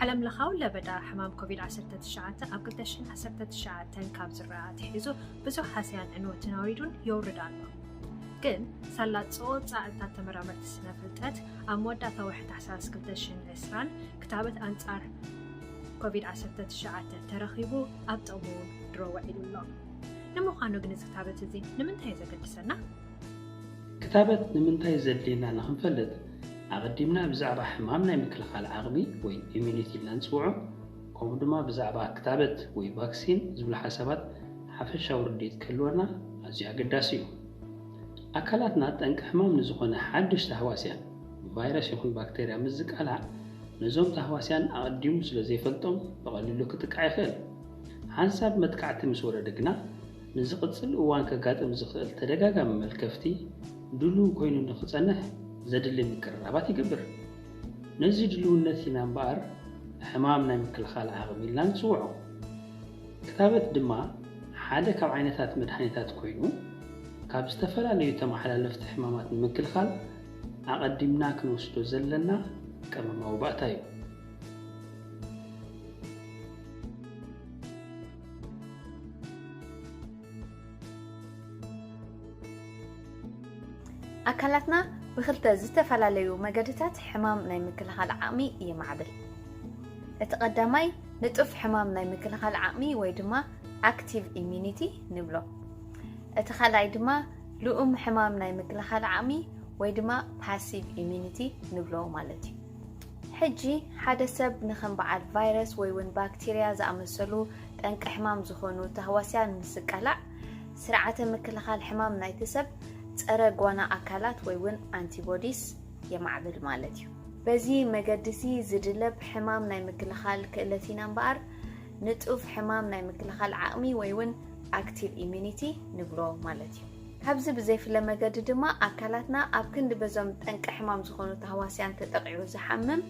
ዓለም ለኻዊ ለበዳ ሕማም ኮቪድ-19 ኣብ 2019 ካብ ዝረኣ ኣትሒዙ ብዙሕ ሃስያን ዕንወትን ኣውሪዱን የውርድ ኣሎ ግን ሳላ ፀወፃእታት ተመራመርቲ ስነ ፍልጠት ኣብ መወዳእታ ወርሒ ታሕሳስ 2020 ክታበት ኣንፃር ኮቪድ-19 ተረኺቡ ኣብ ጥቕሙ ድሮ ውዒሉ ኣሎ ንምዃኑ ግን እዚ ክታበት እዚ ንምንታይ እዩ ዘገድሰና? ክታበት ንምንታይ ዘድልየና ንኽንፈልጥ ኣቐዲምና ብዛዕባ ሕማም ናይ ምክልኻል ዓቕሚ ወይ ኢሚዩኒቲ ኢልና ንፅውዖ ከምኡ ድማ ብዛዕባ ክታበት ወይ ቫክሲን ዝብሉ ሓሳባት ሓፈሻዊ ርድኢት ክህልወና ኣዝዩ ኣገዳሲ እዩ። ኣካላትና ጠንቂ ሕማም ንዝኾነ ሓዱሽ ታህዋስያን፣ ቫይረስ ይኹን ባክተርያ፣ ምስ ዝቃላዕ ነዞም ታህዋስያን ኣቐዲሙ ስለዘይፈልጦም ብቐሊሉ ክጥቃዕ ይኽእል። ሓንሳብ መጥቃዕቲ ምስ ወረደ ግና፣ ንዝቕጽል እዋን ከጋጥም ዝኽእል ተደጋጋሚ መልከፍቲ ድሉው ኮይኑ ንኽጸንሕ ዘድሊ ምቅርራባት ይገብር። ነዚ ድሉውነት ኢና እምበኣር ሕማም ናይ ምክልኻል ዓቕሚ ኢልና ንጽውዖ። ክታበት ድማ ሓደ ካብ ዓይነታት መድሃኒታት ኮይኑ፣ ካብ ዝተፈላለዩ ተመሓላለፍቲ ሕማማት ንምክልኻል ኣቐዲምና ክንወስዶ ዘለና ቀመማዊ ባእታ እዩ። ኣካላትና ብክልተ ዝተፈላለዩ መገድታት ሕማም ናይ ምክልኻል ዓቕሚ ይማዕብል። እቲ ቀዳማይ ንጡፍ ሕማም ናይ ምክልኻል ዓቕሚ ወይ ድማ ኣክቲቭ ኢሚኒቲ ንብሎ። እቲ ካልኣይ ድማ ልኡም ሕማም ናይ ምክልኻል ዓቕሚ ወይ ድማ ፓሲቭ ኢሚኒቲ ንብሎ ማለት እዩ። ሕጂ ሓደ ሰብ ንከም በዓል ቫይረስ ወይውን ባክቲርያ ዝኣመሰሉ ጠንቂ ሕማም ዝኾኑ ታህዋስያን ምስ ዝቃላዕ ስርዓተ ምክልኻል ሕማም ናይቲ ሰብ ጸረ ጓና ኣካላት ወይውን ኣንቲቦዲስ የማዕብል ማለት እዩ። በዚ መገዲሲ ዝድለብ ሕማም ናይ ምክልኻል ክእለት ኢና እምበኣር ንጡፍ ሕማም ናይ ምክልኻል ዓቕሚ ወይውን ኣክቲቭ ኢሚኒቲ ንብሎ ማለት እዩ። ካብዚ ብዘይፍለ መገዲ ድማ ኣካላትና ኣብ ክንዲ በዞም ጠንቂ ሕማም ዝኾኑ ታህዋስያን ተጠቒዑ ዝሓምም፣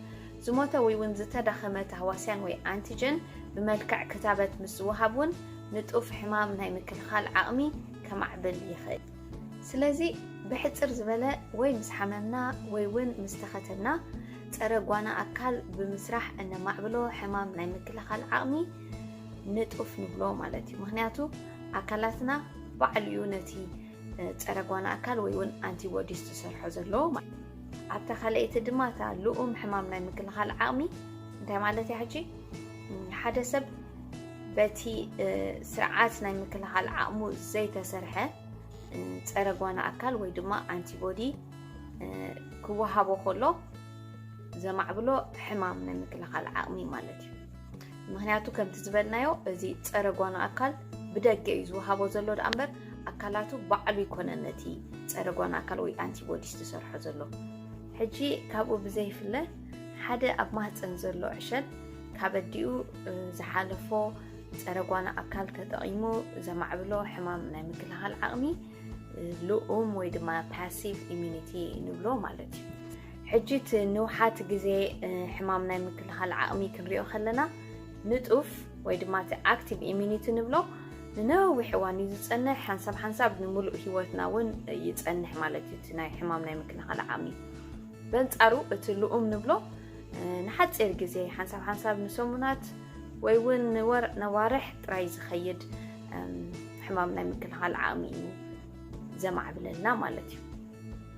ዝሞተ ወይ'ውን ዝተዳኸመ ታህዋስያን ወይ ኣንቲጀን ብመልክዕ ክታበት ምስ ዝወሃብ እውን ንጡፍ ሕማም ናይ ምክልኻል ዓቕሚ ከማዕብል ይኽእል። ስለዚ ብሕጽር ዝበለ ወይ ምስ ሓመምና ወይ'ውን ምስ ተኸተብና ጸረ ጓና ኣካል ብምስራሕ እነማዕብሎ ሕማም ናይ ምክልኻል ዓቕሚ ንጡፍ ንብሎ ማለት እዩ። ምኽንያቱ ኣካላትና ባዕሉ እዩ ነቲ ፀረ ጓና ኣካል ወይ እውን ኣንቲቦዲስ ዝሰርሖ ዘለዎ ማለት ኣብታ ካልኣይቲ ድማ እታ ልኡም ሕማም ናይ ምክልኻል ዓቕሚ እንታይ ማለት እያ ሕጂ ሓደ ሰብ በቲ ስርዓት ናይ ምክልኻል ዓቕሙ ዘይተሰርሐ ፀረ ጓና ኣካል ወይ ድማ ኣንቲቦዲ ክወሃቦ ከሎ ዘማዕብሎ ሕማም ናይ ምክልኻል ዓቕሚ ማለት እዩ ምክንያቱ ከምቲ ዝበልናዮ እዚ ፀረ ጓኖ ኣካል ብደገ እዩ ዝወሃቦ ዘሎ ደኣ እምበር ኣካላቱ ባዕሉ ይኮነን ነቲ ፀረ ጓኖ ኣካል ወይ ኣንቲቦዲስ ዝሰርሖ ዘሎ ሕጂ ካብኡ ብዘይፍለ ሓደ ኣብ ማህፀን ዘሎ ዕሸል ካብ ኣዲኡ ዝሓለፎ ፀረ ጓኖ ኣካል ተጠቒሙ ዘማዕብሎ ሕማም ናይ ምክልኻል ዓቕሚ ልኡም ወይ ድማ ፓሲቭ ኢሚኒቲ ንብሎ ማለት እዩ ሕጂ እቲ ንውሓት ግዜ ሕማም ናይ ምክልኻል ዓቕሚ ክንሪኦ ከለና ንጡፍ ወይ ድማ እቲ ኣክቲቭ ኢሚኒቲ ንብሎ ንነዊሕ እዋን እዩ ዝፀንሕ ሓንሳብ ሓንሳብ ንምሉእ ሂወትና እውን ይፀንሕ ማለት እዩ እቲ ናይ ሕማም ናይ ምክልኻል ዓቕሚ በንጻሩ እቲ ልኡም ንብሎ ንሓፂር ግዜ ሓንሳብ ሓንሳብ ንሰሙናት ወይ እውን ነዋርሕ ጥራይ ዝኸይድ ሕማም ናይ ምክልኻል ዓቕሚ እዩ ዘማዕብለልና ማለት እዩ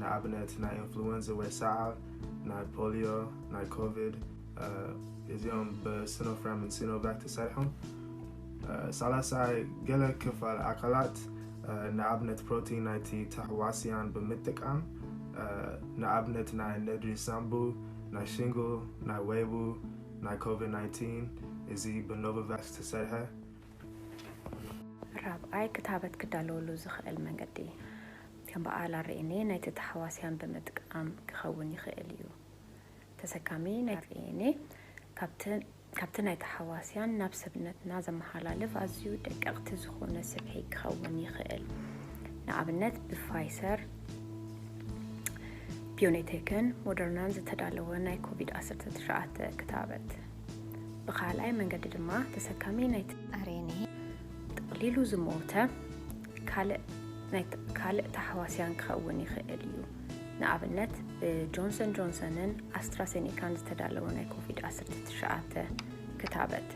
ንኣብነት ናይ ኢንፍሉወንዝ ወይ ሰዓል፣ ናይ ፖልዮ፣ ናይ ኮቪድ እዚኦም ብስኖፍራምን ሲኖቫክ ተሰሪሖም። ሳላሳይ ገለ ክፋል ኣካላት ንኣብነት ፕሮቲን ናይቲ ተህዋስያን ብምጥቃም ንኣብነት ናይ ነድሪ ሳምቡ፣ ናይ ሽንግል፣ ናይ ወይቡ፣ ናይ ኮቪድ 19 እዚ ብኖቮቫክስ ዝተሰርሐ። ራብዓይ ክታበት ክዳለወሉ ዝኸእል መንገዲ ከም በዓል ኣርኤንኤ ናይቲ ተሃዋስያን ብምጥቃም ክኸውን ይኽእል እዩ። ተሰካሚ ናይ ኣርኤንኤ ካብቲ ናይ ተሃዋስያን ናብ ሰብነትና ዘመሓላልፍ ኣዝዩ ደቀቕቲ ዝኾነ ስብሒ ክኸውን ይኽእል። ንኣብነት ብፋይሰር ቢዮኔቴክን ሞደርናን ዝተዳለወ ናይ ኮቪድ ዓሰርተ ትሽዓተ ክታበት። ብካልኣይ መንገዲ ድማ ተሰካሚ ናይ ኣርኤንኤ ጠቕሊሉ ዝሞተ ካልእ ታሕዋስያን ክኸውን ይኽእል እዩ። ንኣብነት ብጆንሰን ጆንሰንን ኣስትራሴኒካን ዝተዳለወ ናይ ኮቪድ-19 ክታበት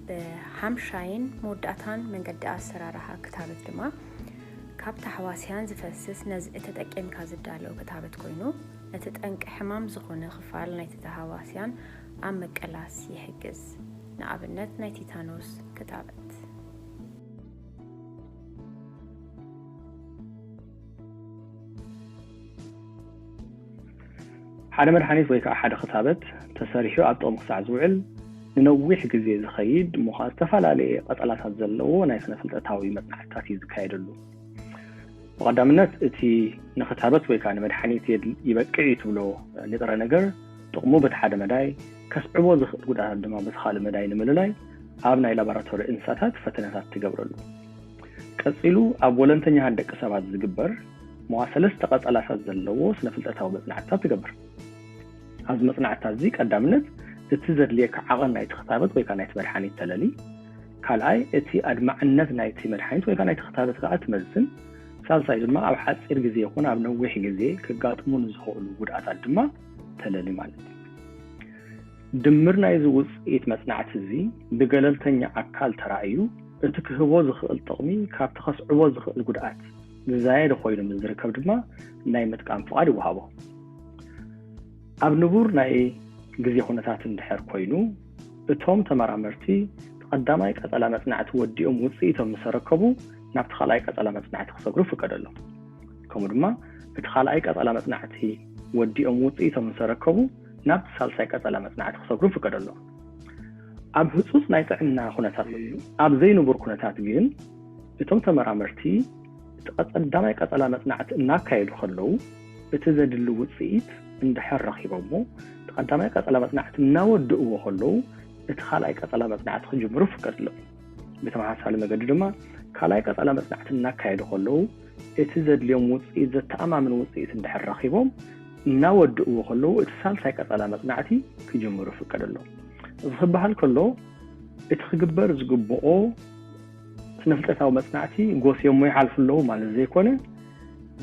ብሓምሻይን መወዳእታን መንገዲ ኣሰራርሓ ክታበት ድማ ካብ ታሕዋስያን ዝፈስስ ነዚ እተጠቂምካ ዝዳለው ክታበት ኮይኑ ነቲ ጠንቂ ሕማም ዝኾነ ክፋል ናይቲ ተሃዋስያን ኣብ ምቅላስ ይሕግዝ። ንኣብነት ናይ ቲታኖስ ክታበት ሓደ መድሓኒት ወይ ከዓ ሓደ ክታበት ተሰሪሑ ኣብ ጥቕሚ ክሳዕ ዝውዕል ንነዊሕ ግዜ ዝኸይድ እሞ ከዓ ዝተፈላለየ ቀጸላታት ዘለዎ ናይ ስነ ፍልጠታዊ መፅናዕትታት እዩ ዝካየደሉ ብቐዳምነት እቲ ንክታበት ወይ ከዓ ንመድሓኒት ይበቅዕ እዩ ትብሎ ንጥረ ነገር ጥቕሙ በቲ ሓደ መዳይ ከስዕቦ ዝኽእል ጉድኣታት ድማ በቲ ካልእ መዳይ ንምልላይ ኣብ ናይ ላቦራቶሪ እንስሳታት ፈተነታት ትገብረሉ። ቀጺሉ ኣብ ወለንተኛታት ደቂ ሰባት ዝግበር መዋ ሰለስተ ቀጸላታት ዘለዎ ስነፍልጠታዊ መጽናዕትታት ትገብር። ኣብዚ መጽናዕትታት እዚ ቀዳምነት እቲ ዘድልየካ ዓቐን ናይቲ ክታበት ወይ ከኣ ናይቲ መድሓኒት ተለሊ፣ ካልኣይ እቲ ኣድማዕነት ናይቲ መድሓኒት ወይ ከኣ ናይቲ ክታበት ከኣ ትመዝን፣ ሳልሳይ ድማ ኣብ ሓጺር ግዜ ይኹን ኣብ ነዊሕ ግዜ ከጋጥሙ ንዝኽእሉ ጉድኣታት ድማ ተለሊ ማለት እዩ። ድምር ናይዚ ውጽኢት መጽናዕቲ እዚ ብገለልተኛ ኣካል ተራእዩ እቲ ክህቦ ዝኽእል ጥቕሚ ካብቲ ከስዕቦ ዝኽእል ጉድኣት ዝዛየደ ኮይኑ ምስ ዝርከብ ድማ ናይ ምጥቃም ፍቓድ ይወሃቦ። ኣብ ንቡር ናይ ግዜ ኩነታት እንድሕር ኮይኑ እቶም ተመራመርቲ ቀዳማይ ቀጸላ መጽናዕቲ ወዲኦም ውጽኢቶም ምስ ኣረከቡ ናብቲ ካልኣይ ቀጸላ መጽናዕቲ ክሰግሩ ይፍቀደሎም። ከምኡ ድማ እቲ ካልኣይ ቀጸላ መጽናዕቲ ወዲኦም ውጽኢቶም ምስ ኣረከቡ ናብቲ ሳልሳይ ቀጸላ መጽናዕቲ ክሰግሩ ፍቀደሎም ኣብ ህጹጽ ናይ ጥዕና ኩነታት ኣብ ዘይንቡር ኩነታት ግን እቶም ተመራመርቲ እቲ ቀጸዳማይ ቀጸላ መጽናዕቲ እናካየዱ ከለዉ እቲ ዘድሊ ውጽኢት እንድሕር ረኺቦሞ እቲ ቀዳማይ ቀጸላ መጽናዕቲ እናወድእዎ ከለዉ እቲ ካልኣይ ቀጸላ መጽናዕቲ ክጅምሩ ፍቀድሎም ብተመሳሳሊ መገዲ ድማ ካልኣይ ቀጸላ መጽናዕቲ እናካየዱ ከለዉ እቲ ዘድልዮም ውጽኢት ዘተኣማምን ውጽኢት እንድሕር ረኺቦም እናወድእዎ ከለዉ እቲ ሳልሳይ ቀጸላ መጽናዕቲ ክጅምሩ ይፍቀደሎም። እዚ ክበሃል ከሎ እቲ ክግበር ዝግብኦ ስነፍልጠታዊ መጽናዕቲ ጎስዮሞ ይሓልፉ ኣለዉ ማለት ዘይኮነ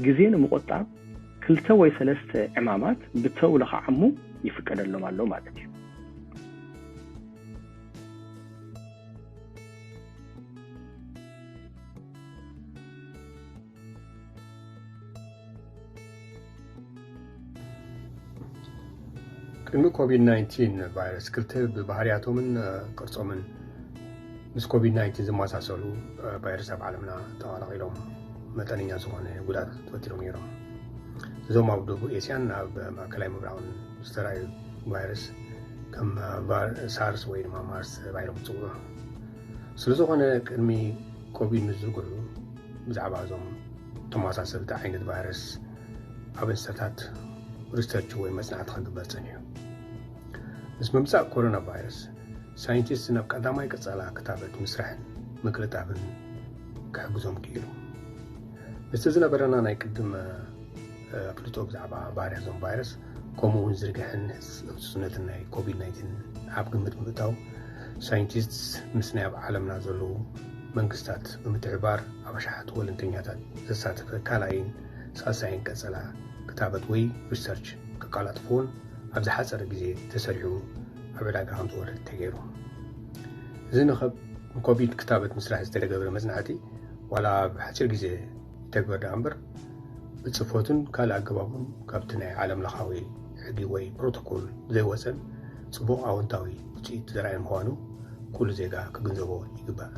ግዜ ንምቑጣብ ክልተ ወይ ሰለስተ ዕማማት ብተውሎ ክዓሙ ይፍቀደሎም ኣሎ ማለት እዩ። ቅድሚ ኮቪድ-19 ቫይረስ ክልተ ብባህርያቶምን ቅርጾምን ምስ ኮቪድ-19 ዝመሳሰሉ ቫይረስ ኣብ ዓለምና ተቐላቒሎም መጠነኛ ዝኾነ ጉዳት ፈጢሮም ነይሮም እዞም ኣብ ደቡብ ኤስያን ኣብ ማእከላይ ምብራቕን ዝተረኣዩ ቫይረስ ከም ሳርስ ወይ ድማ ማርስ ተባሂሎም ዝፅውዑ ስለ ዝኾነ ቅድሚ ኮቪድ ንዝጉዑ ብዛዕባ እዞም ተመሳሰልቲ ዓይነት ቫይረስ ኣብ እንስሳታት ሪሰርች ወይ መጽናዕቲ ክግበር ጸኒሑ ምስ ምምጻእ ኮሮና ቫይረስ ሳይንቲስት ናብ ቀዳማይ ቀጻላ ክታበት ምስራሕን ምቅልጣፍን ክሕግዞም ክኢሉ ምስቲ ዝነበረና ናይ ቅድመ ኣፍልጦ ብዛዕባ ባህርያ ዞም ቫይረስ ከምኡ'ውን ዝርግሐን ህጹጽነትን ናይ ኮቪድ ናይንቲን ኣብ ግምት ብምእታው ሳይንቲስትስ ምስ ናይ ኣብ ዓለምና ዘለዉ መንግስታት ብምትሕባር ኣብ ኣሽሓት ወለንተኛታት ዘሳተፈ ካልኣይን ሳልሳይን ቀጸላ ክታበት ወይ ሪሰርች ከቃላጥፉን ኣብ ዝሓፀረ ግዜ ተሰሪዑ ኣብ ዕዳጋ ከም ዝወርድ ተገይሩ እዚ ንኮቪድ ክታበት ምስራሕ ዝተገብረ መፅናዕቲ ዋላ ኣብ ሓፂር ግዜ ይተግበር ደኣ እምበር ብጽፈቱን ካልእ ኣገባቡን ካብቲ ናይ ዓለም ለኻዊ ሕጊ ወይ ፕሮቶኮል ዘይወጸን ጽቡቕ ኣወንታዊ ውጽኢት ዘርኣየ ምዃኑ ኩሉ ዜጋ ክግንዘቦ ይግባእ።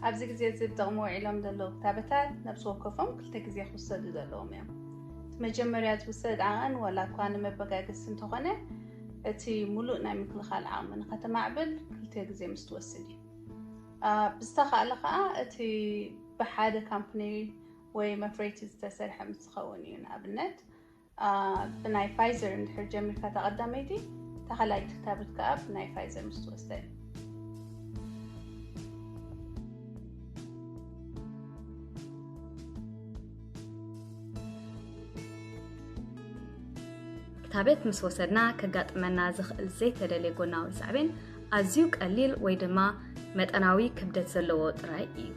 ኣብዚ ግዜ እዚ ብጥቕሚ ውዒሎም ዘለዉ ክታበታት ነብሲ ወከፎም ክልተ ግዜ ክውሰዱ ዘለዎም እዮም። እቲ መጀመርያ ዝውሰድ ዓቐን ዋላ እኳ ንመበጋገሲ እንተኾነ እቲ ሙሉእ ናይ ምክልኻል ዓቕሚ ንኸተማዕብል ክልተ ግዜ ምስ ትወስድ እዩ። ብዝተኻእለ ከዓ እቲ ብሓደ ካምፕኒ ወይ መፍረይቲ ዝተሰርሐ ምስ ዝኸውን እዩ። ንኣብነት ብናይ ፋይዘር እንድሕር ጀሚርካ እታ ቀዳመይቲ እታ ካልኣይቲ ክታብት ከዓ ብናይ ፋይዘር ምስ ትወስደ እዩ ክታበት ምስ ወሰድና ከጋጥመና ዝኽእል ዘይተደልየ ጎናዊ ሳዕቤን ኣዝዩ ቀሊል ወይ ድማ መጠናዊ ክብደት ዘለዎ ጥራይ እዩ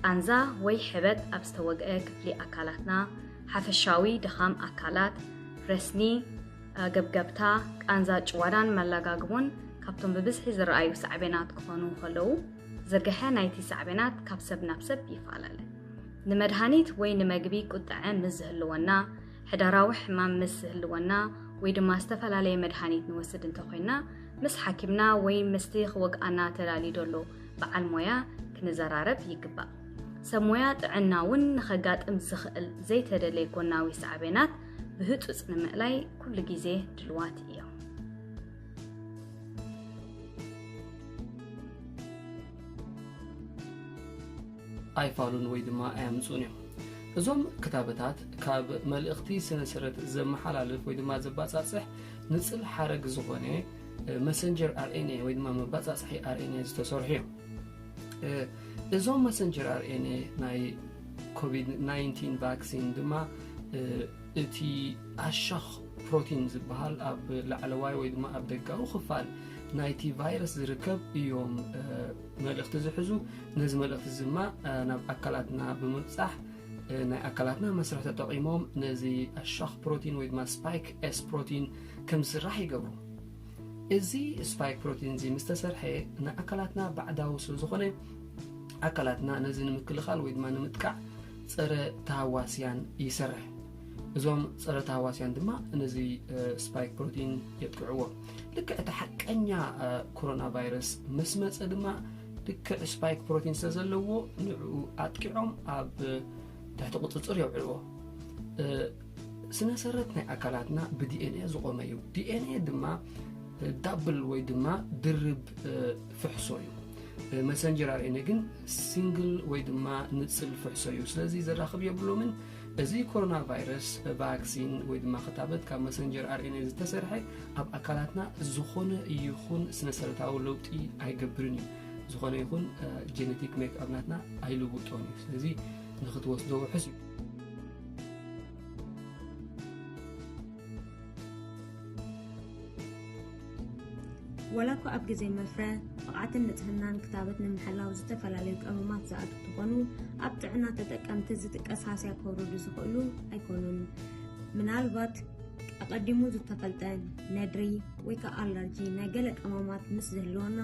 ቃንዛ ወይ ሕበጥ ኣብ ዝተወግአ ክፍሊ ኣካላትና፣ ሓፈሻዊ ድኻም ኣካላት፣ ረስኒ፣ ገብገብታ፣ ቃንዛ ጭዋዳን መላጋግቦን ካብቶም ብብዝሒ ዝረኣዩ ሳዕቤናት ክኾኑ ከለዉ፣ ዝርግሐ ናይቲ ሳዕቤናት ካብ ሰብ ናብ ሰብ ይፈላለ። ንመድሃኒት ወይ ንመግቢ ቁጠዐ ምስ ዝህልወና፣ ሕዳራዊ ሕማም ምስ ዝህልወና ወይ ድማ ዝተፈላለየ መድሃኒት ንወስድ እንተኾይንና ምስ ሓኪምና ወይ ምስቲ ክወግኣና ተላልዩዶ ኣሎ በዓል ሞያ ክንዘራረብ ይግባእ። ሰብ ሞያ ጥዕና እውን ንኸጋጥም ዝኽእል ዘይተደለየ ጎናዊ ሳዕቤናት ብህፁፅ ንምእላይ ኩሉ ግዜ ድልዋት እዮም። ኣይፋሉን ወይ ድማ ኣያምፁን እዮም እዞም ክታበታት ካብ መልእኽቲ ስነስረት ዘመሓላልፍ ወይ ድማ ዘባፃፅሕ ንፅል ሓረግ ዝኾነ መሰንጀር ኣርኤንኤ ወይ ድማ መባፃፅሒ ኣርኤንኤ ዝተሰርሑ እዮም እዞም መሰንጀር ኣርኤንኤ ናይ ኮቪድ 19 ቫክሲን ድማ እቲ ኣሻኽ ፕሮቲን ዝበሃል ኣብ ላዕለዋይ ወይ ድማ ኣብ ደጋዊ ክፋል ናይቲ ቫይረስ ዝርከብ እዮም መልእኽቲ ዝሕዙ ነዚ መልእኽቲ እዚ ድማ ናብ ኣካላትና ብምብፃሕ ናይ ኣካላትና መስርሕ ተጠቒሞም ነዚ ኣሻኽ ፕሮቲን ወይ ድማ ስፓይክ ኤስ ፕሮቲን ከም ዝስራሕ ይገብሩ። እዚ ስፓይክ ፕሮቲንዚ ምስ ተሰርሐ ንኣካላትና ባዕዳዊ ስለ ዝኾነ ኣካላትና ነዚ ንምክልኻል ወይ ድማ ንምጥቃዕ ፀረ ተሃዋስያን ይሰርሕ። እዞም ፀረ ተሃዋስያን ድማ ነዚ ስፓይክ ፕሮቲን የጥቅዕዎ ልክዕ እቲ ሓቀኛ ኮሮና ቫይረስ ምስ መፀ ድማ ልክዕ ስፓይክ ፕሮቲን ስለ ዘለዎ ንዕኡ ኣጥቂዖም ኣብ ትሕቲ ቁፅፅር የውዕልዎ ስነሰረት ናይ ኣካላትና ብዲኤንኤ ዝቆመ እዩ ዲኤንኤ ድማ ዳብል ወይ ድማ ድርብ ፍሕሶ እዩ መሰንጀር ኣርኤንኤ ግን ሲንግል ወይ ድማ ንፅል ፍሕሶ እዩ ስለዚ ዘራኽብ የብሎምን እዚ ኮሮና ቫይረስ ቫክሲን ወይ ድማ ክታበት ካብ መሰንጀር ኣርኤንኤ ዝተሰርሐ ኣብ ኣካላትና ዝኾነ ይኹን ስነሰረታዊ ለውጢ ኣይገብርን እዩ ዝኾነ ይኹን ጀነቲክ ሜክኣብናትና ኣይልውጦን እዩ ስለዚ ንክትወስዶ ውሑስ እዩ ዋላ እኳ ኣብ ግዜ መፍረ ብቕዓትን ንጽህናን ክታበት ንምሕላው ዝተፈላለዩ ቀመማት ዝኣቱ ትኾኑ ኣብ ጥዕና ተጠቀምቲ ዝጥቀስ ሃስያ ከውርዱ ዝኽእሉ ኣይኮኑን። ምናልባት ኣቐዲሙ ዝተፈልጠ ነድሪ ወይ ከዓ ኣላርጂ ናይ ገለ ቀመማት ምስ ዝህልወና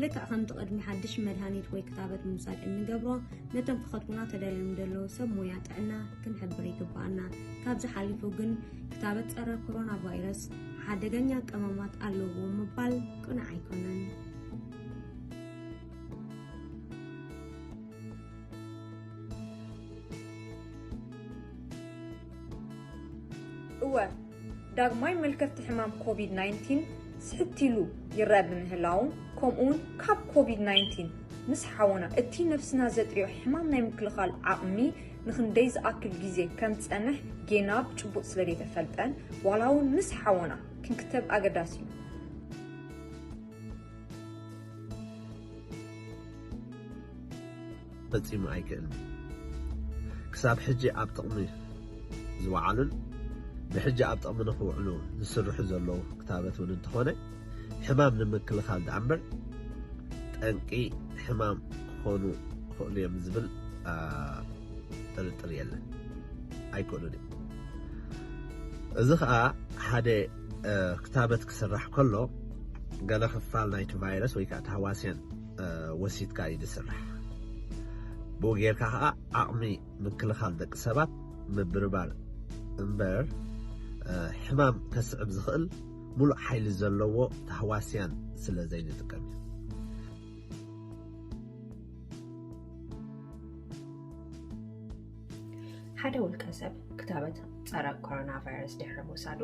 ልክዕ ከምቲ ቅድሚ ሓድሽ መድሃኒት ወይ ክታበት ምውሳድ እንገብሮ፣ ነቶም ክኸትቡና ተደልዮም ዘለዉ ሰብ ሞያ ጥዕና ክንሕብር ይግብኣና። ካብዚ ሓሊፉ ግን ክታበት ጸረ ኮሮና ቫይረስ ሓደገኛ ቀመማት ኣለዎ ምባል ቅኑዕ ኣይኮነን። እወ! ዳግማይ መልከፍቲ ሕማም ኮቪድ ናይን ቲን ስሕት ኢሉ ይረኣ ብምህላዉ ከምኡውን ካብ ኮቪድ ናይን ቲን ምስ ሓወና እቲ ነፍስና ዘጥርዮ ሕማም ናይ ምክልኻል ዓቕሚ ንክንደይ ዝኣክል ግዜ ከም ዝጸንሕ ጌና ብጭቡጥ ስለ ደይተፈልጠን ዋላ እውን ምስ ሓወና ክንክተብ ኣገዳሲ እዩ። ፈጺሙ ኣይክእልን እዩ። ክሳብ ሕጂ ኣብ ጥቕሚ ዝወዓሉን ብሕጂ ኣብ ጥቕሚ ንኽውዕሉ ዝስርሑ ዘለዉ ክታበት እውን እንተኾነ ሕማም ንምክልኻል ደኣ እምበር ጠንቂ ሕማም ክኾኑ ይኽእሉ እዮም ዝብል ጥርጥር የለን። ኣይክእሉን እዮም። እዚ ከዓ ሓደ ክታበት ክስራሕ ከሎ ገለ ክፋል ናይቲ ቫይረስ ወይ ከዓ ተህዋስያን ወሲድካ እዩ ዝስራሕ። ብኡ ጌርካ ከዓ ዓቕሚ ምክልኻል ደቂ ሰባት ምብርባር እምበር ሕማም ከስዕብ ዝኽእል ሙሉእ ሓይሊ ዘለዎ ታህዋስያን ስለ ዘይንጥቀም እዩ። ሓደ ውልቀ ሰብ ክታበት ፀረ ኮሮና ቫይረስ ድሕሪ ምውሳዱ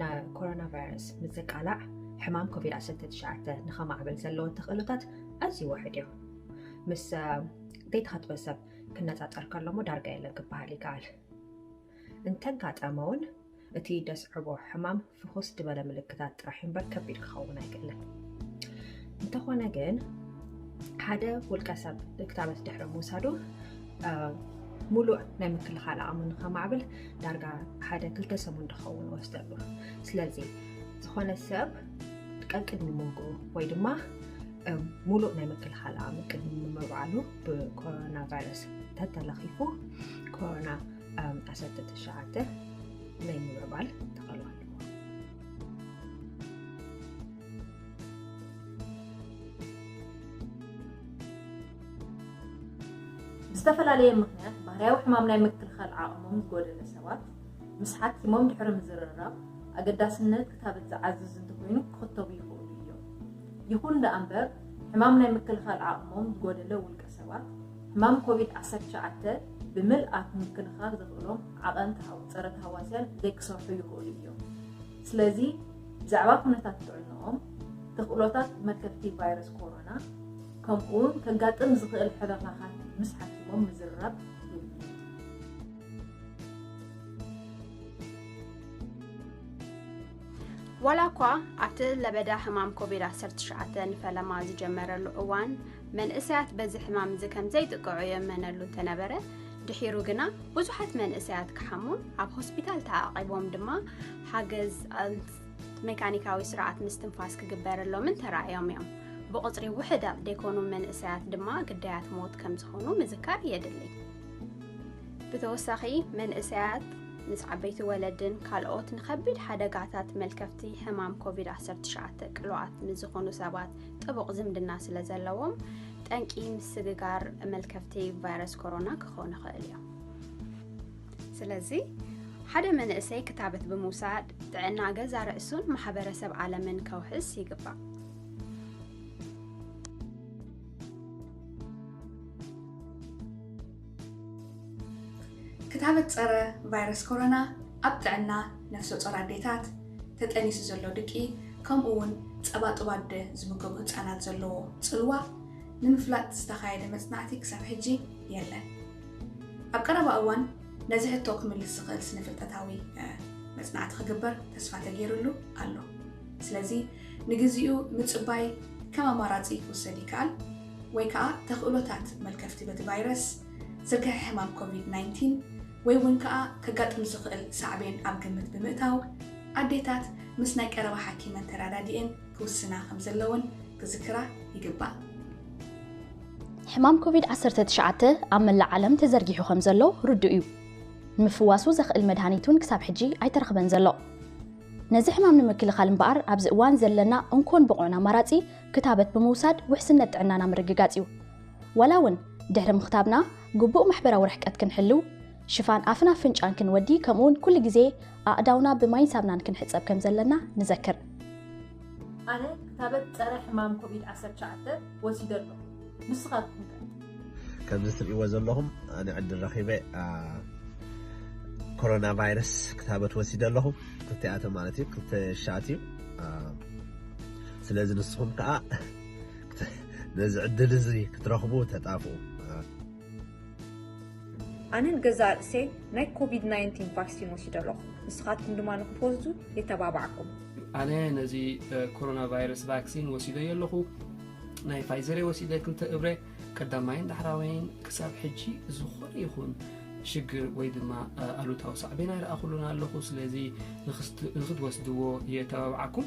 ንኮሮና ቫይረስ ምዝቃላዕ ሕማም ኮቪድ 19 ንኸማዕብል ዘለዎ ተኽእሎታት ኣዝዩ ውሕድ እዩ ምስ ዘይተኸትበ ሰብ ክነፃፀር ከሎሞ ዳርጋ የለን ክበሃል ይከኣል እንተጋጠመ እውን እቲ ደስዕቦ ሕማም ፍኹስ ዝበለ ምልክታት ጥራሕ እምበር ከቢድ ክኸውን ኣይክእልን እንተኾነ ግን ሓደ ውልቀ ሰብ ክታበት ድሕሪ ምውሳዱ ሙሉእ ናይ ምክልኻል ኣቕሙ ንከማዕብል ዳርጋ ሓደ ክልተ ሰሙን ዝኸውን ወስደሉ ስለዚ ዝኾነ ሰብ ቀቅድሚ ምግቡ ወይ ድማ ሙሉእ ናይ ምክልኻል ኣቕሚ ቅድሚ ምምዕባሉ ብኮሮና ቫይረስ ተተለኺፉ ኮሮና ዓሰርተ ትሽዓተ ናይ ምምዕባል ተኸእሎ ኣለዎ ብዝተፈላለየ ምኽንያት ባህርያዊ ሕማም ናይ ምክልኻል ዓቕሞም ዝጎደለ ሰባት ምስ ሓኪሞም ድሕሪ ምዝርራብ ኣገዳስነት ክታበት ዝዓዝዝ እንተኾይኑ ክኽተቡ ይኽእሉ እዮም። ይኹን ደኣ እምበር ሕማም ናይ ምክልኻል ዓቕሞም ዝጎደለ ውልቀ ሰባት ሕማም ኮቪድ ዓሰርተ ትሽዓተ ብምልኣት ንምክልኻል ዘኽእሎም ዓቐን ፀረ ተሃዋስያን ዘይክሰርሑ ይኽእሉ እዮም። ስለዚ ብዛዕባ ኩነታት ጥዕንኦም፣ ተኽእሎታት መልከፍቲ ቫይረስ ኮሮና፣ ከምኡውን ከጋጥም ዝኽእል ሕርኽራኻት ምስ ሓኪሞም ምዝርራብ የድሊ። ዋላ እኳ ኣብቲ ለበዳ ሕማም ኮቪድ ዓሰርተ ትሽዓተ ንፈለማ ዝጀመረሉ እዋን መንእሰያት በዚ ሕማም እዚ ከም ዘይጥቀዑ የእመነሉ እንተነበረ፣ ድሒሩ ግና ብዙሓት መንእሰያት ክሓሙን ኣብ ሆስፒታል ተዓቚቦም ድማ ሓገዝ መካኒካዊ ስርዓት ምስትንፋስ ክግበረሎምን ተራእዮም እዮም። ብቑጽሪ ውሕዳት ደይኮኑ መንእሰያት ድማ ግዳያት ሞት ከም ዝኾኑ ምዝካር የድሊ። ብተወሳኺ መንእሰያት ምስ ዓበይቲ ወለድን ካልኦት ንከቢድ ሓደጋታት መልከፍቲ ሕማም ኮቪድ-19 ቅሉዓት ምስ ዝኾኑ ሰባት ጥቡቕ ዝምድና ስለ ዘለዎም ጠንቂ ምስግጋር መልከፍቲ ቫይረስ ኮሮና ክኾኑ ይኽእል እዮም። ስለዚ ሓደ መንእሰይ ክታበት ብምውሳድ ጥዕና ገዛ ርእሱን ማሕበረሰብ ዓለምን ከውሕስ ይግባእ ክታበት ፀረ ቫይረስ ኮሮና ኣብ ጥዕና ነፍሰ ፆር ኣዴታት ተጠኒሱ ዘሎ ድቂ ከምኡ እውን ፀባ ጥባደ ዝምገቡ ህፃናት ዘለዎ ፅልዋ ንምፍላጥ ዝተኻየደ መፅናዕቲ ክሳብ ሕጂ የለን ኣብ ቀረባ እዋን ነዚ ሕቶ ክምልስ ዝኽእል ስነ-ፍልጠታዊ መጽናዕቲ ክግበር ተስፋ ተገይርሉ ኣሎ። ስለዚ ንግዚኡ ምጽባይ ከም ኣማራጺ ክውሰድ ይከኣል፣ ወይ ከኣ ተኽእሎታት መልከፍቲ በቲ ቫይረስ፣ ዝርግሐ ሕማም ኮቪድ ናይንቲን ወይ እውን ከኣ ከጋጥም ዝኽእል ሳዕቤን ኣብ ግምት ብምእታው ኣዴታት ምስ ናይ ቀረባ ሓኪመን ተረዳዲኤን ክውስና ከምዘለወን ክዝክራ ይግባእ። ሕማም ኮቪድ ዓሰርተ ትሽዓተ ኣብ መላእ ዓለም ተዘርጊሑ ከም ዘሎ ርዱእ እዩ። ንምፍዋሱ ዘኽእል መድሃኒት እውን ክሳብ ሕጂ ኣይተረኽበን ዘሎ። ነዚ ሕማም ንምክልኻል እምበኣር ኣብዚ እዋን ዘለና እንኮን ብቑዕን ኣማራጺ ክታበት ብምውሳድ ውሕስነት ጥዕናና ምርግጋጽ እዩ። ዋላ እውን ድሕሪ ምኽታብና ግቡእ ማሕበራዊ ርሕቀት ክንሕልው፣ ሽፋን ኣፍን ኣፍንጫን ክንወዲ ከምኡውን ኩሉ ግዜ ኣእዳውና ብማይን ሳብናን ክንሕጸብ ከም ዘለና ንዘክር። ኣነ ክታበት ጸረ ሕማም ኮቪድ ዓሰርተ ትሽዓተ ወሲደ ኣለኹ ንስኻትኩም ከ? ከምዚ ትርእይዎ ዘለኹም ኣነ ዕድል ረኺበ ኮሮና ቫይረስ ክታበት ወሲደ ኣለኹ ክልቲኣተ ማለት እዩ ክልተ ሻት እዩ ስለዚ ንስኹም ከዓ ነዚ ዕድል እዚ ክትረኽቡ ተጣፍኡ ኣነ ንገዛእ ርእሰይ ናይ ኮቪድ ናይንቲን ቫክሲን ወሲደ ኣለኹ። ንስኻትኩም ድማ ንክትወስዱ የተባባዕኩም። ኣነ ነዚ ኮሮና ቫይረስ ቫክሲን ወሲደዮ ኣለኹ። ናይ ፋይዘር ወሲደ ክልተ እብረ ቀዳማይን ዳሕራዋይን ክሳብ ሕጂ ዝኾነ ይኹን ሽግር ወይ ድማ ኣሉታዊ ሳዕቤን ኣይረኣኹሉን ኣለኹ ስለዚ ንክትወስድዎ የተባብዓኩም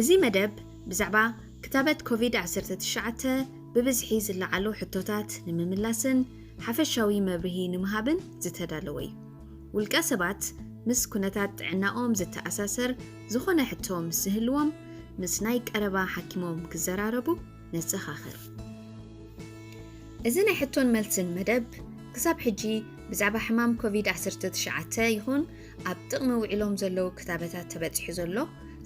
እዚ መደብ ብዛዕባ ክታበት ኮቪድ-19 ብብዝሒ ዝለዓሉ ሕቶታት ንምምላስን ሓፈሻዊ መብርሂ ንምሃብን ዝተዳለወ እዩ። ውልቀ ሰባት ምስ ኩነታት ጥዕናኦም ዝተኣሳሰር ዝኾነ ሕቶ ምስ ዝህልዎም ምስ ናይ ቀረባ ሓኪሞም ክዘራረቡ ነዘኻኽር። እዚ ናይ ሕቶን መልስን መደብ ክሳብ ሕጂ ብዛዕባ ሕማም ኮቪድ ዓሰርተ ትሽዓተ ይኹን ኣብ ጥቕሚ ውዒሎም ዘለዉ ክታበታት ተበጺሑ ዘሎ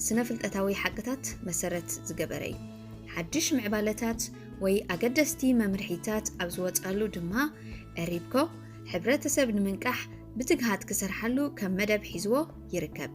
ስነ ፍልጠታዊ ሓቅታት መሰረት ዝገበረ እዩ። ሓድሽ ምዕባለታት ወይ ኣገደስቲ መምርሒታት ኣብ ዝወጻሉ ድማ ዕሪብኮ ሕብረተሰብ ንምንቃሕ ብትግሃት ክሰርሓሉ ከም መደብ ሒዝዎ ይርከብ።